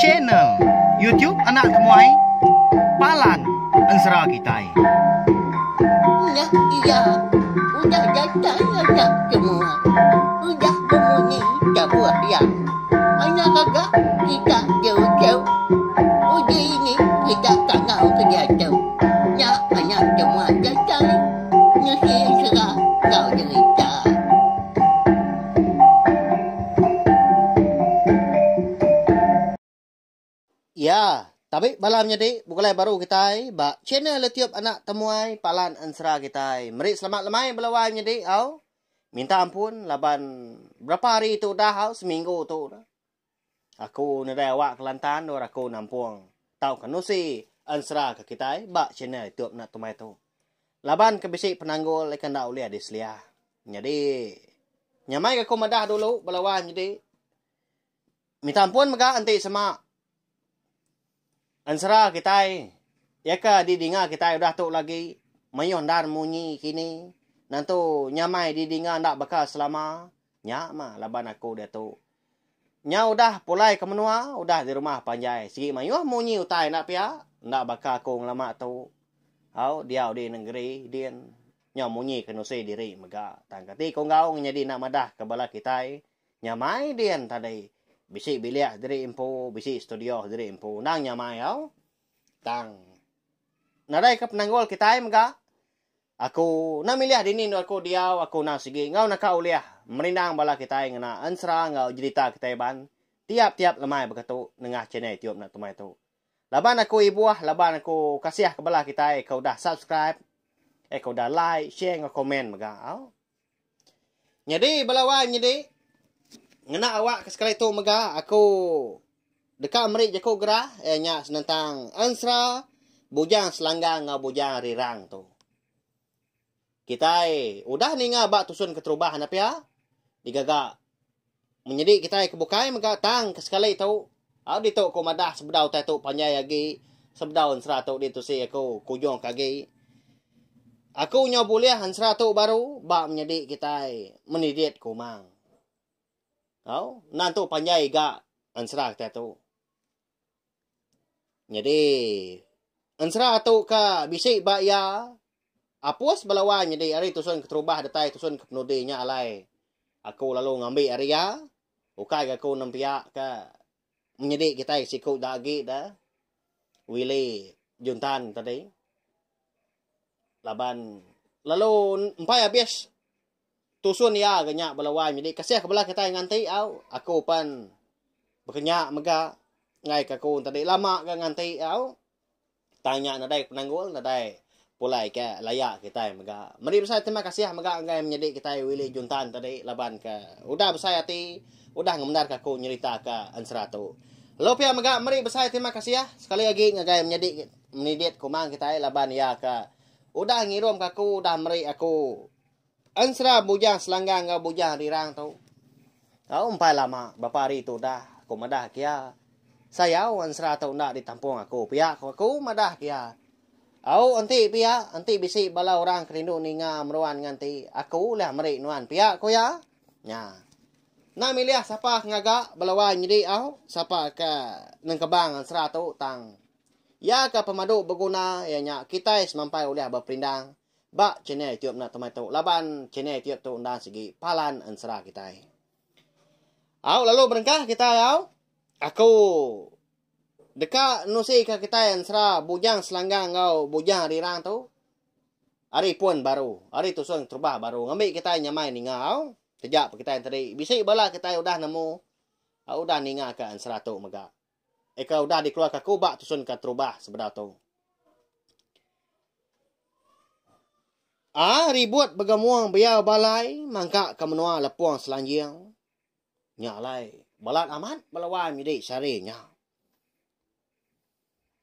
Channel YouTube anak temuai palan ensera kitai. Udah iya, udah datai anak temuai, udah bemunyi tabuh iya. Anak gaga kita jauh-jauh, udah ini kita tangau ke diatu. Nya anak temuai datai, nusi ensera enggau derita. Iya, tabi bala menyadi begulai baru kitai ba channel YouTube Anak Temuai Palan Ensera kitai. Meri selamat lemai bala wai menyadi au. Minta ampun laban berapa hari tu udah au seminggu tu udah. Aku nedai awak Kelantan endur aku nampung tauka nusi ensra ke kitai ba channel youtube enda tumai tu. Laban ke bisi penanggul ika enda ulih diselia. Nyadi nyamai ga aku madah dulu belawan nyadi minta ampun mega enti sema. Ensera kitai, iya ke didinga kitai udah tu lagi, mayuh endar munyi kini, nentu nyamai didinga enda baka selama. Nya mah laban aku diatu. Nyau udah pulai ke menua, udah di rumah panjai, sigi mayuh munyi utai enda pia, enda baka aku ngelama tu. Au, diau di nengeri din, nyau munyi ke nusi diri mega. Tang kati ku enggau nyadi enda madah ke bala kitai? Nyamai din tadi. Bisi bilik diri empu, bisi studio diri empu. Endang nyamai tau. Tang nadai ke penanggul kitai mega. Aku enda milih dini endur aku diau, aku enda sigi enggau naka ulih merindang bala kitai ngena ensera enggau jerita kitai ban tiap-tiap lemai baka tu nengah channel YouTube enda temai tu. Laban aku ibuh, laban aku kasih ke bala kitai ke udah subscribe, eh ke udah like, share enggau komen mega tau. Nyadi bala wang nyadi ngena awak ke sekali tu mega aku deka meri jaku gerah iya nya senentang Ensra Bujang Selanggang enggau Bujang Rirang tu. Kitai udah ninga ba tusun keterubah enda pia digaga Menyadi kitai ke bukai mega tang ke sekali tu. Au ditu ku madah sebedau utai tu panjai agi sebedau ensera tu ditusi aku ku Nyong ke agi. Aku nyau bulih ensera tu baru ba menyadi kitai menidit ku Mang. Au nan tu panjai ga ensera kitai tu. Nyadi, ensera tu ka bisi ba iya Apus bala wan nyadi ari tusun keterubah datai tusun ke penudi nya alai aku lalu ngambi ari iya ukai ga aku nempiak ka menyedi kitai siku da agi da Willy Juntan tadi laban lalu empai abis Tusun iya ga nya bala wai nyadi kasih ke bala kitai nganti au. Aku pan bekenya mega ngaika aku enti adi lama ga nganti au tang nya nadai penanggul nadai pulai ke laya kitai mega. Meri besai terima kasih mega enggai menyadi kitai Willy Juntan tadi laban ke udah besai ati udah ngemendarka aku nyeritaka ensera tu. Lalu pia mega meri besai terima kasih sekali agi ngagai menyadi menidit kumang kitai laban iya ke udah ngirumka aku udah meri aku Ensra bujang selanggang enggau bujang rirang tu. Tau empai lama, bapa hari tu dah, aku madah ke iya. Sayau ensra tu enda ditampung aku pia ku aku madah ke iya. Au enti pia, enti bisi bala orang ke rindu ninga meruan nganti, aku ulih meri nuan pia ku iya. Nya. Enda milih sapa ke ngaga bala wai nyidi au, sapa ke nengkebang ensra tu tang iya ke pemadu beguna iya nya kitai semampai ulih beperindang. Ba channel youtube enda temai tu laban channel youtube tu enda sigi palan ensera kitai. Au lalu berengkah kitai au. Aku deka nusika kitai ensera Bujang Selanggang enggau Bujang Rirang tu ari pun baru, ari tusung terubah baru ngambi kitai nyamai ninga au. Teja pa kitai enti tadi bisi bala kitai udah nemu udah ningaka ensera tu mega. eka udah dikeluarka aku ba tusun ke terubah sebedau tu. A ribut begemung beyau balai mangka ke menua lepung selanjing. Nya alai balat amat belawai midi sehari nya.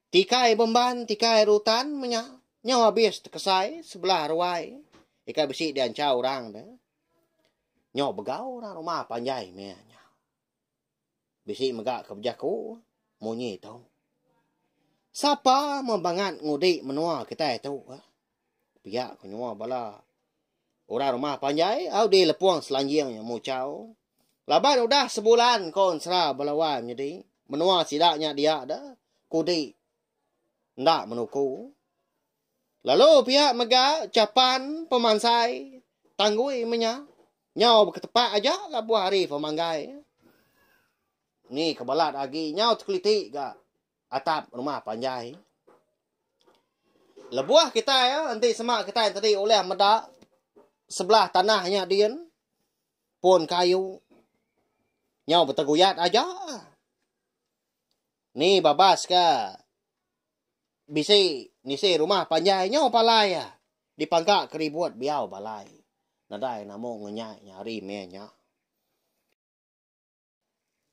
Tikai bemban tikai rutan menya nyau abis tekesai sebelah ruai eka bisi dianchau orang de. Nyau begau orang rumah panjai meh nya. Bisi mega ke bejaku munyi tu. Sapa mun bangat ngudi menua kitai tu ka. Pia ku nyua bala orang rumah panjai au di Lepong Selanjing nya muchau. Laban udah sebulan ko ensera bala wai menyedi menua sida nya dia da kudi enda menuku. Lalu pia mega chapan pemansai tanggui menya nyau beketepak aja labuh hari pemanggai. Ni ke balat agi nyau tekeliti ga atap rumah panjai. Lebuh kitai enti sema kitai tadi ulih meda sebelah tanah nya din pun kayu nyau beteguyat aja. Ni babas ka bisi nisi rumah panjai nyau palai iya dipangka ke ribut biau balai nadai namu ngenyai nya hari meh nya.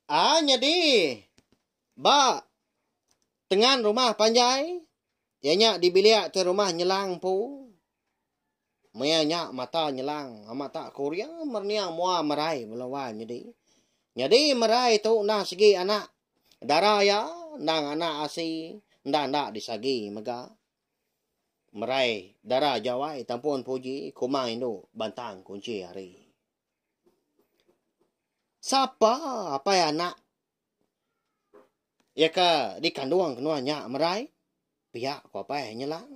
Aa nyadi ba tengan rumah panjai iya nya dibilik ke rumah nyelang empu. Maya nya mata nyelang amat tak Korea merniang mua merai bela wan nyedi. Nyedi merai tu enda segi anak dara iya endang anak asi enda enda disagi mega merai dara jawai tampun puji kumang indu bantang kunchi hari. Sapa apai anak iya ka dikandung ke nuan nya merai pia ku apai nyelang.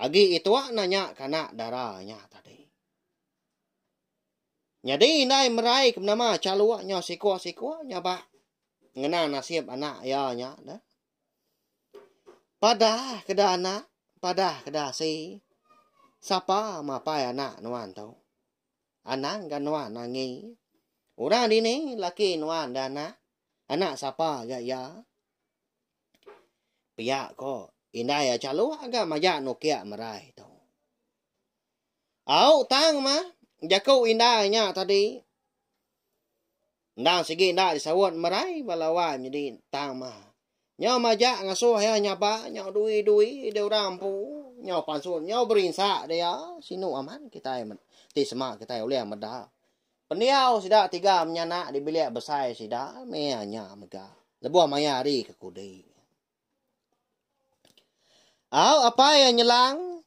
Agi itua nanya ke anak dara nya tadi. Nyadi indai merai ke menama chaluk nya siko-siko nya ba ngena nasib anak iya nya dah. Padah ke da anak, padah ke da asi. Sapa mapai anak nuan tu? Anang ga nuan angi. Orang dini laki nuan da anak. Anak sapa ga iya? Pia ko indai ya chaluk ga maja nukia merai tu. Au tang ma jaku indai nya tadi. Endang sigi nda disaut merai bala wai menyedi tang ma. Nyo maja ngasuh ya nyaba nyo dui-dui de orang empu nyo pansut nyo berinsa dia sinu amat kitai ti sema kitai ulih meda Pendiau sida tiga menyanak di bilik besai sida meh nya mega lebuh maya hari ke kudi. Au apai iya nyelang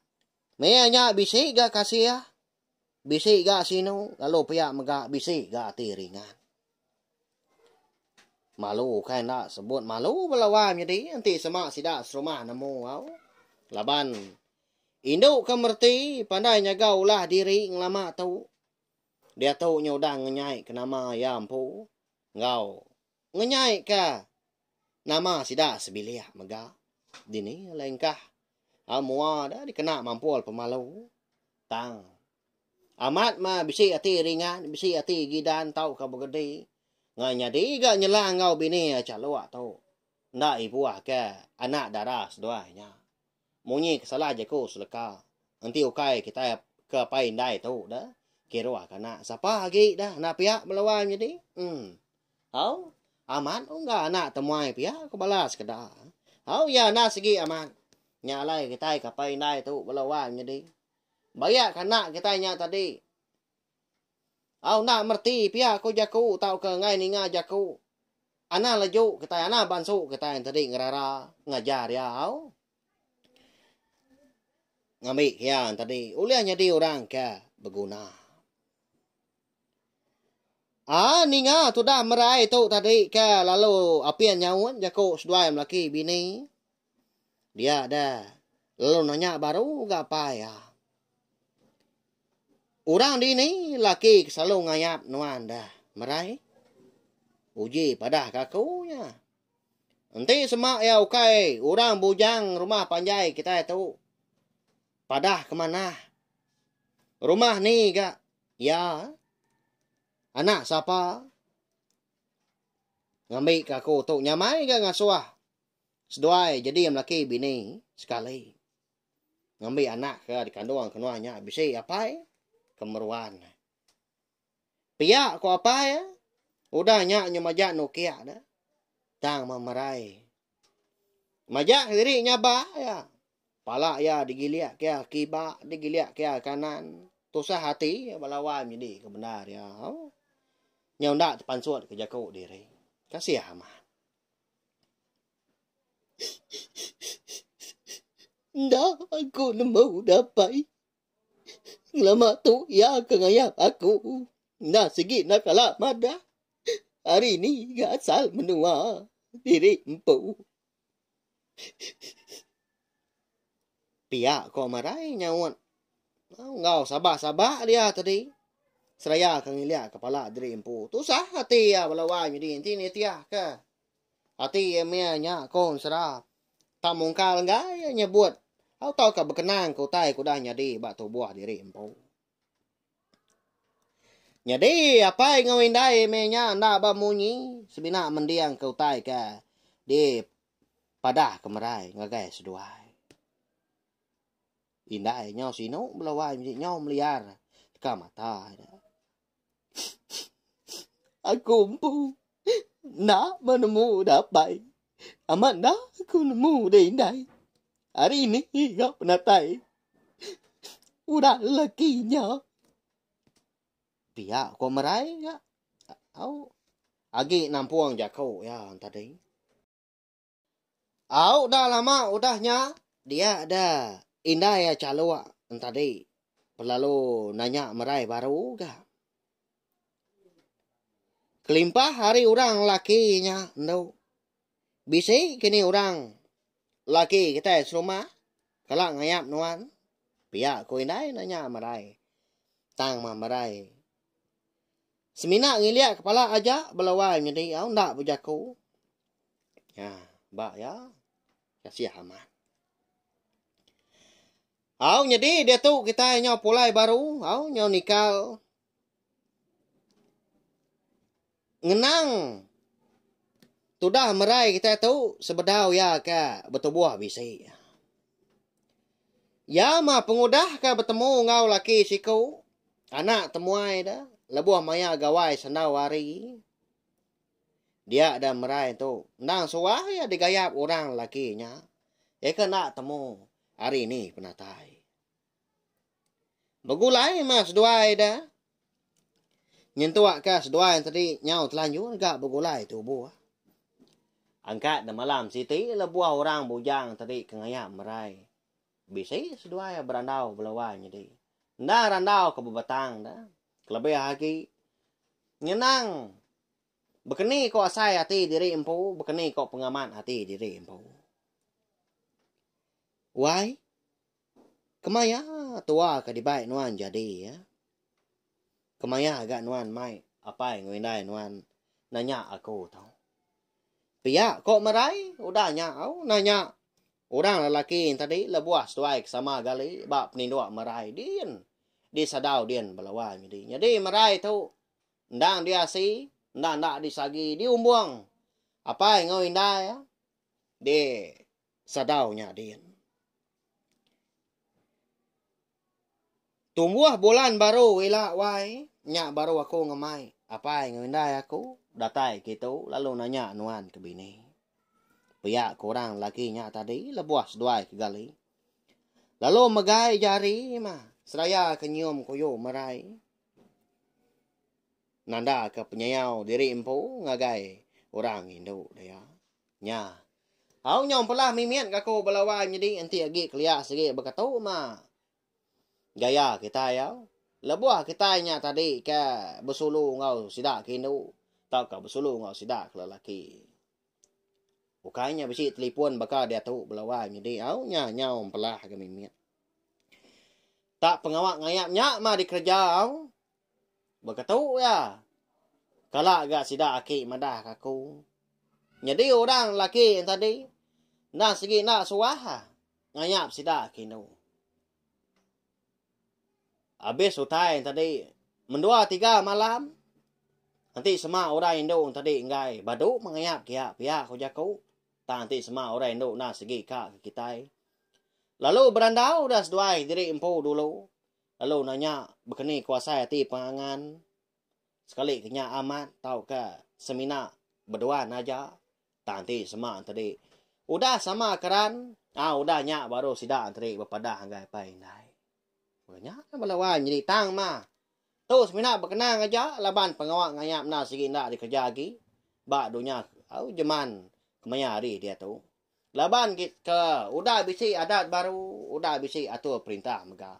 meh nya bisi ga kasih, bisi ga sinu lalu pia mega bisi ga ati ringan. Malu ukai enda sebut malu bala wai menyadi enti sema sida serumah nemu au laban indu ke mereti pandai nyaga ulah diri ngelama tu Diatu nya udah ngenyaika nama iya empu enggau ngenyaika nama sida sebilik mega. Dini alai engkah au mua deh dikena mampul pemalu tang amat meh bisi ati ringan, bisi ati gidan tauka begedi ngah nyadi ga nyela enggau bini iya chaluk tu enda ibuhka anak dara seduai nya. Munyi kesalah jaku seleka enti ukai kitai ke apai indai tu da kiruh ka anak sapa agi da anak piak bala wai menyadi em au amat ungga anak temuai pia ko bala sekeda au ya enda sigi amat nya alai kitai ke apai indai tu bala wai menyadi bayak ka anak kitai nya tadi. Au enda mereti pia ko jaku tauka enggai ninga jaku. Anang leju kitai anang bansu kitai entedi ngerara ngajar iya au. Ngambi ke iya entedi ulih nyadi orang ke beguna. Ah ninga tudah merai tu tadi ke lalu apin nyaun jaku seduai melaki bini. Dia deh. Lalu nanya baru ga apai iya. Orang dini laki ke selalu ngayap nuan deh, Merai? Uji padah ke aku nya. Enti sema iya ukai orang bujang rumah panjai kitai tu, padah ke manah. Rumah ni ga iya? Anak sapa? Ngambi ke aku tu nyamai ga ngasuh. Seduai jadi melaki bini sekali. Ngambi anak ke dikandung ke nuan nya bisi apai ke meruan. Pia ku apai, udah nya nyau majak nukik dah. Tang memerai. Majak kediri nyaba iya. Pala iya digilik ke kiba, digilik ke kanan. Tusah ati iya ba lawa menyedi ke bendar iya. Nyau enda tepansut ke jaku diri. Kasih amat. Enda aku nemu dapai ngelama tu iya ke ngayak aku. Enda sigi enda kala madah ari ni ga asal menua diri empu. Pia ko Marai nyaut. Enggau sabak-sabak dia tadi. Seraya ke ngilik kepala diri empu. Tusah ati iya bala wai nyadi enti nitih ke. Ati iya meh nya ko Ensera. Tak mungkal enggai iya nyebut. Au tauka bekenang ke utai ke udah nyadi ba tubuh diri empu. Nyadi apai enggau indai meh nya enda bemunyi semina mending ke utai ke di padah ke merai ngagai seduai. Indai nyau sinu bela wai nyau meliar ka mata. Aku empu enda menemu datai. Amat enda aku nemu deh indai. Hari ini ga penatai. Udah lelaki nya. Pia ko merai ga. Au. Agi nampung jako ya tadi. Au da lama udah nya dia da indai a chaluk entadi belalu nanya merai baru ga. Kelimpah ari orang lelaki nya endo bisi ke ni orang lelaki kitai serumah kala ngayap nuan pia ku indai nanya merai tang mah merai semina ngilik kepala aja belawa nyadi au enda bejaku. Ha, ba ya. Kasih amat. Au nyedi dia tu kita nyau pulai baru, au nyau nikal. Ngenang tudah merai kita tu sebedau ya ke betubuh bisi. Ya ma pengudah ke betemu ngau laki siku, anak temuai da lebuh maya gawai sendau hari. Dia da merai tu, endang suah iya digayap orang lelaki nya. Iya ke enda temu ari ni penatai. Begulai mah seduai da. Nyentuk ka seduai tadi nyau telanjur ga begulai tubuh. Angkat da malam siti lebuh orang bujang tadi ke ngayap merai. Bisi seduai iya berandau bela wai nyadi. Enda randau ke bebetang da. Kelebih agi nyenang bekeni ko asai ati diri empu bekeni ko pengamat ati diri empu. Wai kemaya tua ke dibai nuan jadi ya. Kemaya ga nuan mai apai enggau indai nuan nanya aku tu. Pia ko merai udah nya au nanya orang lelaki tadi lebuh seduai ke sama gali ba penindok merai din di sadau din belawa nyadi. Nyadi merai tu endang diasi endang enda disagi di umbong apai enggau indai di sadau nya din. Tumbuh bulan baru ila wai nya baru aku ngemai apai enggau indai aku datai kitu lalu nanya nuan ke bini. Pia ke orang lelaki nya tadi lebuh seduai ke gali. Lalu megai jari mah seraya ke nyium kuyu merai nanda ke penyayau diri empu ngagai orang indu dia. Nya. Au nyau empelah mimit ka aku bala wai menyedi enti agi kelia sigi beketu ma. Gaya kitai au. Lebuh kitai nya tadi ke besulu enggau sida ke indu tauka besulu enggau sida ke lelaki. Ukai nya bisi telefon baka diatu bala wai menyedi au nya nyau empelah ga mimit. Tak pengawa ngayap nya ma dikereja au. Baka tu iya, kala ga sida aki madah ka aku, Nyadi orang laki yang tadi, enda sigi enda suah ngayap sida ke indu. Abis utai yang tadi, mendua tiga malam, nanti sema orang indu yang tadi enggai badu mengayap kia pia ku jaku, tang nanti sema orang indu enda sigi ka ke kitai. Lalu berandau dah seduai diri empu dulu, lalu nanya bekeni kuasai ati pengangan sekali ke nya amat tauka semina beduan aja tang ti sema tadi udah sama keran a udah nya baru sida tadi bepadah enggai pai indai meh nya lah bala wai nyadi tang mah tu semina bekenang aja laban pengawa ngayak enda sigi enda dikereja agi ba dunya au jeman kemaya hari diatu. Laban gitka udah bisi adat baru, udah bisi atur perintah mega.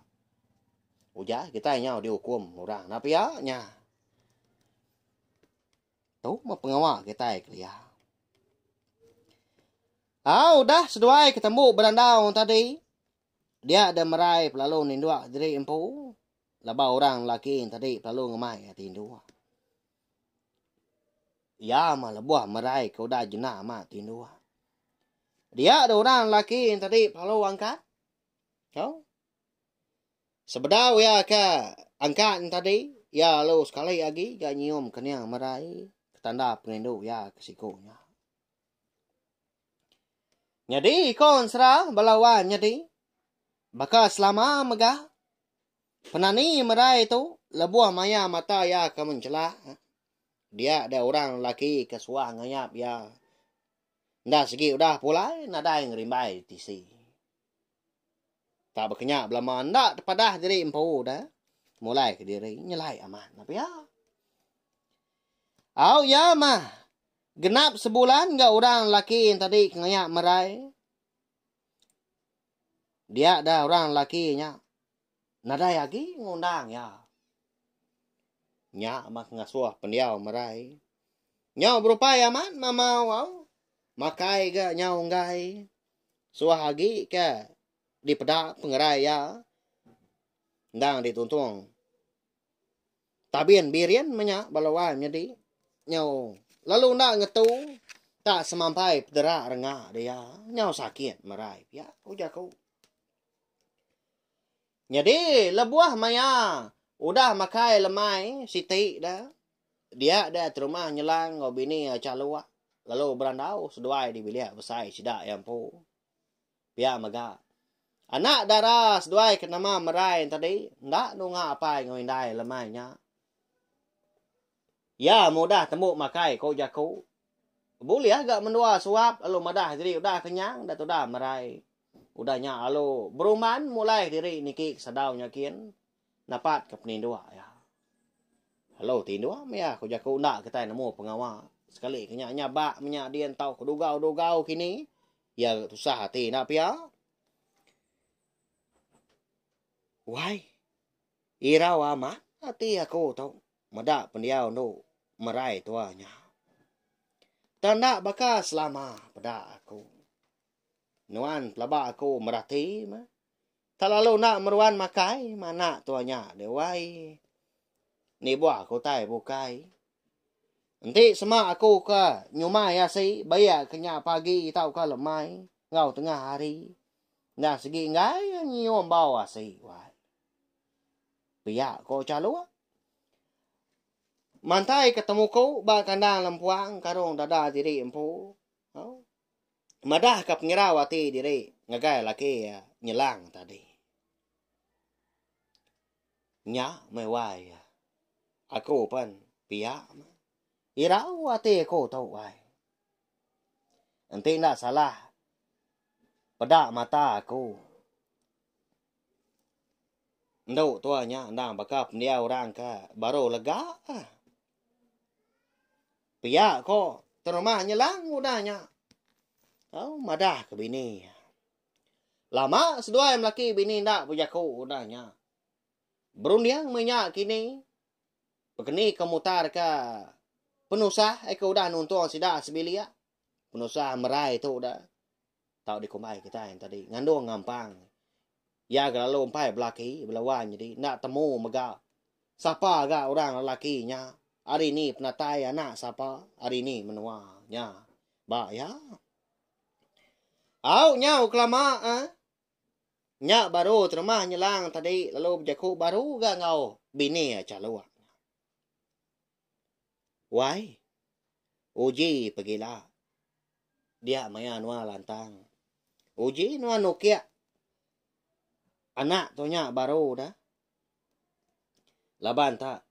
Ujar kitai nyau diukum orang enda pia nya. Tu mah pengawa kitai kelia. Ah, udah seduai ketembu berandau tadi. Dia ada merai pelalu ninduk diri empu. Laba orang lelaki tadi pelalu ngemai ati indu. Iya mah lebuh merai ke udah jena ma ti indu. Dia de orang lelaki tadi lalu angkat. Tau? Sebedau iya ke angkat tadi, iya lalu sekali agi ga nyium kening merai ke tanda perindu iya ke siku nya. Nyadi ikon sera bala wan nyadi baka selama mega. Penani merai tu lebuh maya mata iya ke mencelak, dia deh orang lelaki ke suah ngayap iya. Enda segi udah pulai nadai ngerimbai tisi. Tak bekenya belama enda tepadah diri empu deh mulai kediri nyelai amat ne pia. Au iya mah genap sebulan enggau orang lelaki yang tadi ke ngayap merai. Dia deh orang lelaki nya Nadai agi ngundang iya. Nya mah ngasuh pendiau merai. Nyau berupai amat mamau au. Makai ga nyau enggai. Suah agi ke dipeda pengerai iya endang dituntung. Tabin birin meh nya bala wai menyedi nyau lalu enda ngetu tak semampai pedera renga dia. Nyau sakit merai pia, ujar aku. Nyadi lebuh maya udah makai lemai siti da dia da terumah nyelang enggau bini iya chaluk lalu berandau seduai di bilik besai sida iya empu. Pia mega anak dara seduai ke nama Merai tadi enda nunga apai enggau indai lemai nya. Iya mudah tembu makai ko jaku. Bulih ga mendua suap lalu madah diri udah kenyang da tudah merai. Udah nya lalu beruman mulai diri niki ke sadau nya gin napat ke peninduk iya. Lalu tinduk meh iya ko jaku enda kitai nemu pengawa. Sekali ke nya nya ba menya din tau ke dugau-dugau kini iya ga tusah ati enda pia. Wai irau amat ati aku tu. Meda pendiau endo merai tua nya. Tang enda baka selama peda aku. Nuan pelaba aku merati meh. Tak lalu enda meruan makai meh anak tua nya deh wai. Nibuh aku utai bukai. Enti sema aku ke nyumai asi baia ke nya pagi tauka lemai enggau tengah hari. Enda segi enggai nyium bau asi wai. Pia ko Chalung. Mantai ke temuku ba kandang lempuang karung dada diri empu. Ha? Madah ke penyerau ati diri ngagai laki ya nyelang tadi. Nya mai wai ya. Aku pan pia irau ati aku tu wai. Enti enda salah peda mata aku. Endu tua nya endang baka pendiau orang ke baru lega. Pia ko terumah nyelang udah nya. Tau madah ke bini. Lama seduai melaki bini enda bejaku udah nya. Berunding meh nya kini. Pekeni ke mutar ke penusah eh ke udah nuntung sida sebilik. penusah merai tu udah tau dikumbai kitai tadi ngandung ngampang iya ga lalu empai belaki belawan jadi enda temu mega sapa ga orang lelaki nya hari ni penatai anak sapa hari ni menua nya ba iya au nyau kelama eh nya baru terima nyelang tadi lalu bejaku baru ga enggau bini aja luah Wai. Uji pegila. Dia maya nuan lantang. Uji nuan nukik. Anak tu nya baru dah. Laban ta.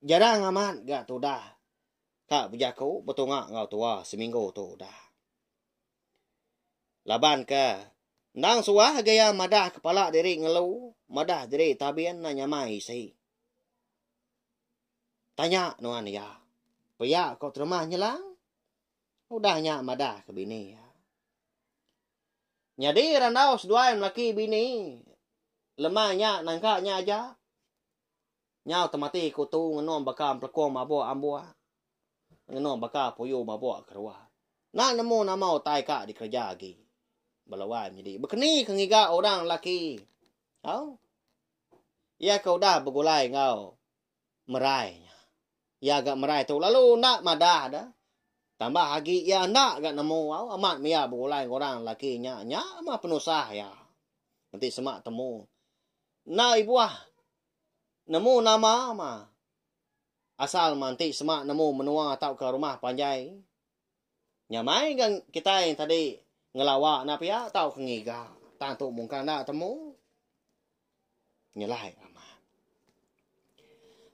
Jarang amat ga tudah. Ka bejaku betunga enggau tua seminggu tu dah. Laban ke. Endang suah gaya madah kepala diri ngelu. Madah diri tabin na nyamai isi. Tanya nuan iya. Pia ko Teremah Nyelang. Udah nya madah ke bini iya. Nyadi randau seduai melaki bini. Lemai nya nangka nya aja. Nyau temati kutu ngenum baka empelekung mabuk ambuh. Ngenum baka puyu mabuk keruah. Nak nemu nama utai ka dikereja agi. Bala wai menyedi. Bekeni ke ngiga orang lelaki. Au. Iya ke udah begulai enggau. merai nya. Iya ga merai tu lalu enda madah deh. Tambah agi iya enda ga nemu au amat mih iya begulai enggau orang lelaki nya. Nya mah penusah iya. Enti sema temu. Enda ibuh nemu nama mah asal mah enti sema nemu menua tauka rumah panjai. Nyamai ga kitai tadi ngelawa enda pia tauka ngiga tang tu mung ka enda temu nyelai amat.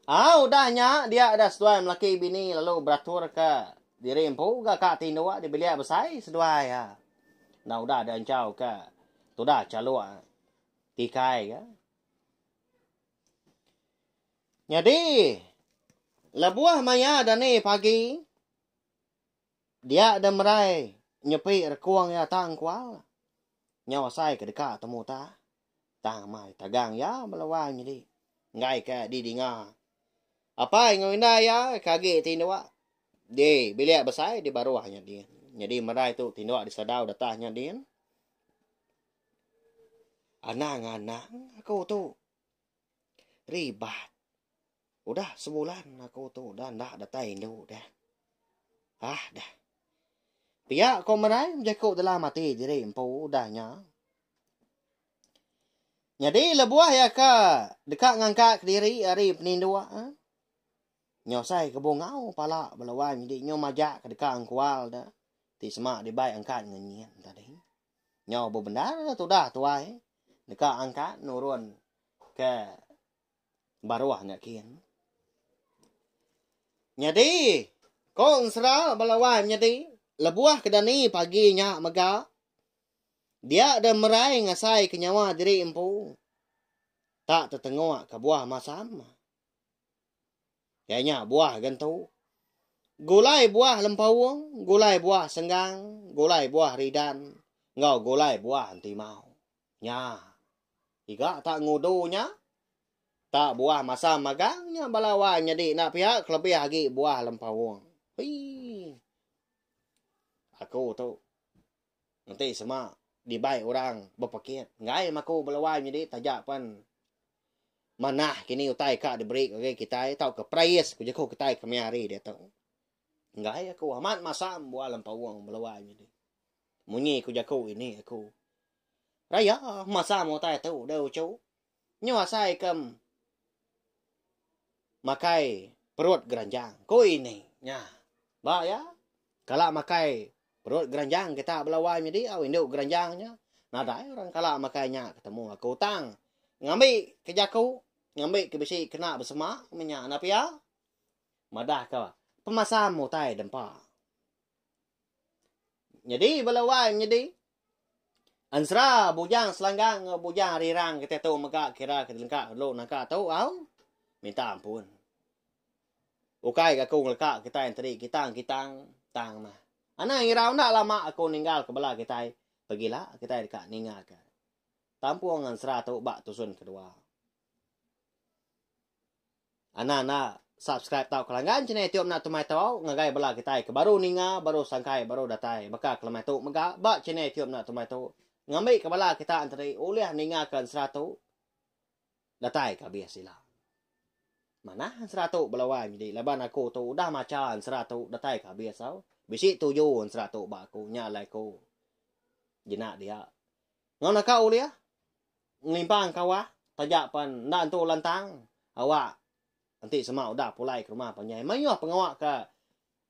Au udah nya dia udah seduai melaki bini lalu beraturka diri empu ga ka ti indu dibilik besai seduai ha. Enda udah dianchau ka tudah chaluk tikai ga. Nyadi lebuh maya dani pagi Dia deh merai nyepi rekung iya tang kual nyau asai ke deka temu utai tang mai tagang iya bala wang nyadi enggai ke didinga. Apai enggau indai iya ke agi ti indu di bilik besai di baruh nya din. Nyadi merai tu ti indu disedau datah nya din. Anang-anang aku tu Ribat. Udah sebulan aku tu dah enda datai indu dah. Ah dah. Pia ko merai bejaku dalam ati diri empu udah nya. Nyadi lebuh ya ka deka ngangkat ke diri ari peninduk eh. Nyosai ke bungau pala belawan nyadi nyu majak ke deka engkual da ti sema dibai angkat ngenyin tadi. Nyau bebendar tudah tuai deka angkat nurun ke baruh nya kin. Nyadi, ko ensera bala wai menyadi, lebuh ke dani pagi nya mega, dia deh merai ngasai ke nyawa diri empu tak tetengok kebuah masam. Iya nya buah gentu. Gulai buah lempaung, gulai buah senggang, gulai buah ridan enggau gulai buah entimau. Nya. Iga tak ngudu nya. Tak buah masam magang nya bala wai nyadi enda pia kelebih agi buah lempaung. Hui. Aku tu. Enti sema dibai orang bepekit enggai maku belawai nyadi taja pen manah kini utai ka diberi ngagai kitai tauka praise ku jeku kitai kemia hari diatu. Enggai aku amat masam buah lempaung belawai nyadi. Munyi ku jaku ini aku. Raya masam utai tu dau uchu. nyu asai ke makai perut geranjang, ku Ini nya. Ba iya, kala makai perut geranjang kita bala wai nyadi au indu geranjang nya, nadai orang kala makai nya ketemu aku tang ngambi ke jaku, ngambi ke bisi kena besema meh nya enda pia. Madahka pemasam utai dempa. Nyadi bala wai menyadi. Ensera bujang selanggang enggau bujang ari rang kitai tu mega kira ke dilengka dulu naka tu au minta ampun. Ukai ga aku ngeleka kitai enteri kitang kitang tang mah. Anang irau enda lama aku ninggal ke bela kitai pegila kitai deka ninga ke tampung ensera tu ba tusun kedua. Ana enda subscribe tau ke langgan channel itiu mena tumai tau ngagai bala kitai ke baru ninga baru sangkai baru datai baka ke lemai tu mega ba channel itiu mena tumai tu ngambi ke bala kita enteri ulih ninga ke ensera tu datai ke abis ila. Manah ensera tu belawan nyadi laban aku tu udah macha ensera tu datai ke abis tau bisi tuju ensera tu ba aku nya alai ku jina dia. Enggau naka ulih ngelimpang kawa taja pen enda entu lantang awak enti sema udah pulai ke rumah panjai mayuh pengawa ke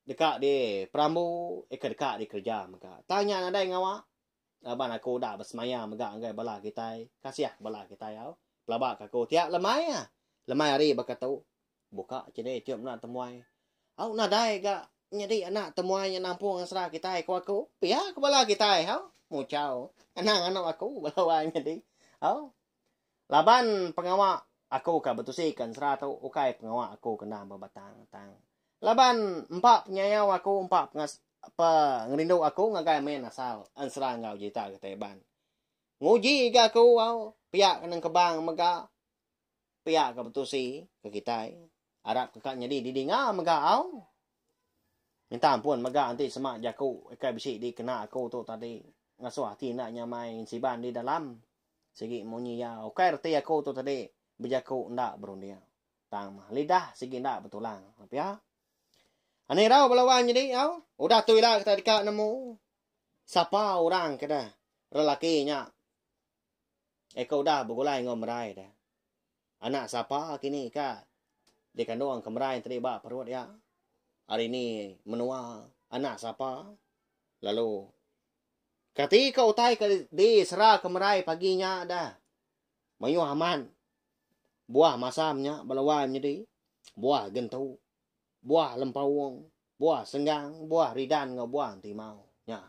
deka di perambu ika deka di kerja mega tang nya nadai ngawa laban aku udah besemaya mega enggai bala kitai kasih bala kitai au pelaba ka aku ti lemai lemai hari baka tu. Buka CD Tiup Anak Temuai. Hau nadai ga nyadi anak temuai nya nampung asra kitai ku aku. Pia ke bala kitai hau. Muchau. Anang anu aku bala wai nyadi. Hau. Laban pengawa aku ka betusi ke ensra tu ukai pengawa aku kena bebatang tang. Laban empa penyayau aku empa pengas pe ngerindu aku ngagai main asal ensra enggau jita kitai Iban. Nguji ga aku hau pia ke nengkebang mega. pia ka betusi ke kitai arap ke ka nyadi di dinga mega au minta ampun mega enti semak jaku ikai bisi di kena aku tu tadi ngasuh ati enda nyamai ngin siban di dalam sigi munyi ya ukai reti aku tu tadi bejaku enda berunding tang mah lidah sigi enda betulang pia Ani rau bala wang nyadi au udah tu ila kita deka nemu sapa orang keda lelaki nya Eka udah begulai enggau merai deh. Anak sapa kini ka dikandung ke merai tadi ba perut iya? Hari ini menua anak sapa? Lalu kati ka utai ke disera ke merai pagi nya deh? Mayuh amat buah masa nya bala wai menyedi buah gentu. Buah lempaung, buah senggang, buah ridan enggau buah entimau. Nya.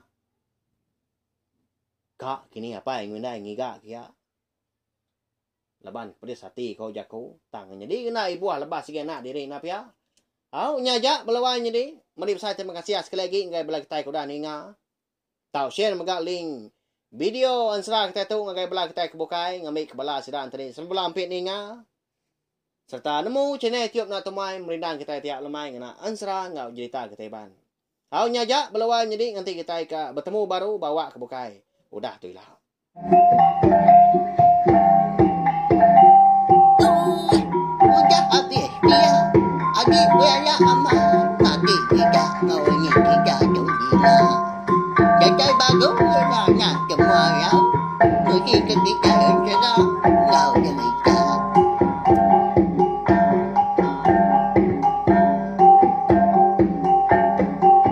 Ka kini apai enggau indai ngiga kia. Laban pedis ati ko jaku, tang nyadi ngena ibuh lebas agi anak diri enda pia. Au nya aja bela wai nyadi. Meri besai terima kasih sekali agi enggai bela kitai ke udah ninga. Tau share mega link Video ensera kitai tu ngagai bala kitai ke bukai ngambika bala sida enteni sebela ampi ninga sereta nemu channel Tiup Enda Tumai merindang kitai tiap lemai ngena ensera enggau jerita kitai iban. Au nya aja bela wai nyedi nganti kitai ka betemu baru ba awak ke bukai. Udah tu ila. Udah abih pia agi kui anak amat makin sida enggau ini sida tu gila. Datai bagong sida nah temu arau mesti ke kitai entera enggau derita.